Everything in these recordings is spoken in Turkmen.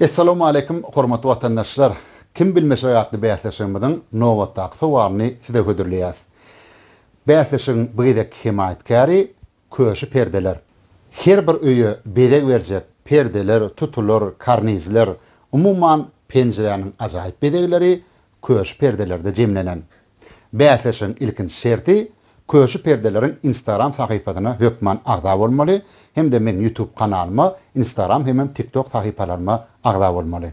Essalawmaleýkim hormatly watandaşlar! Kim bilmeşek atly bäsleşigimiziň nobatdaky sowalyny size hödürleýäs. Bäsleşigiň bu gezekki hemaýatkäri Köşi perdeler. Her bir öýe bezeg berjek perdeler, tutular, karnizler, umuman penjiräniň ajaýyp bezegleri Köşi perdelerde jemlenen. Bäsleşigiň ilkinji şerti Köşi Perdeleriň Instagram sahypasyna hökman agza bolmaly hem-de meň Youtube kanalyma, Instagram hemem TikTok sahypalaryma agza bolmaly.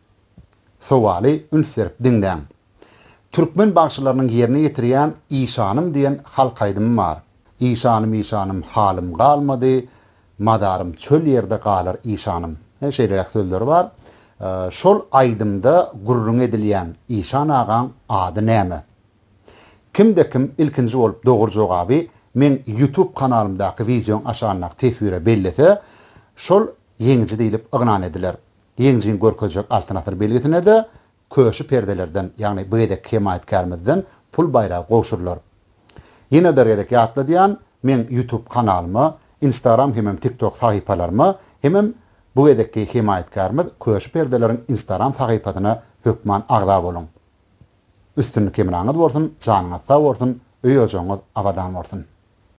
Sowaly üns berip diňläň. Türkmen bagşylarynyň ýerine ýetirýän Işanym diýen halk aýdymy bar. Işanym işanym halym galmady, Mazarym çöl ýerde galar işanym. He, şeýleräk sözleri bar. Şol aýdymda gürrüňi edilýän Işan agaň ady näme? Kimde kim ilkinji bolup dogry jogaby meň YouTube kanalymdaky wideoň aşagyndaky teswire bellese, şol ýeňiji diýlip yglan ediler. Geňjigiň görkezjek Altyn asyr belgisine-de Köşi perdelerden, ýagny bu gezekki hemaýatkärmizden pul baýragy gowşurylar. Ýene bir gezek ýatladýan, meň YouTube kanalyma, Instagram hemem TikTok sahypalaryma hemem bu gezekki hemaýatkärmiz Köşi perdeleriň Instagram sahypasyna hökman agza boluň. Üstünlik hemraňyz bolsun, janyňyz sag bolsun, öý-ojagyňyz abadan bolsun!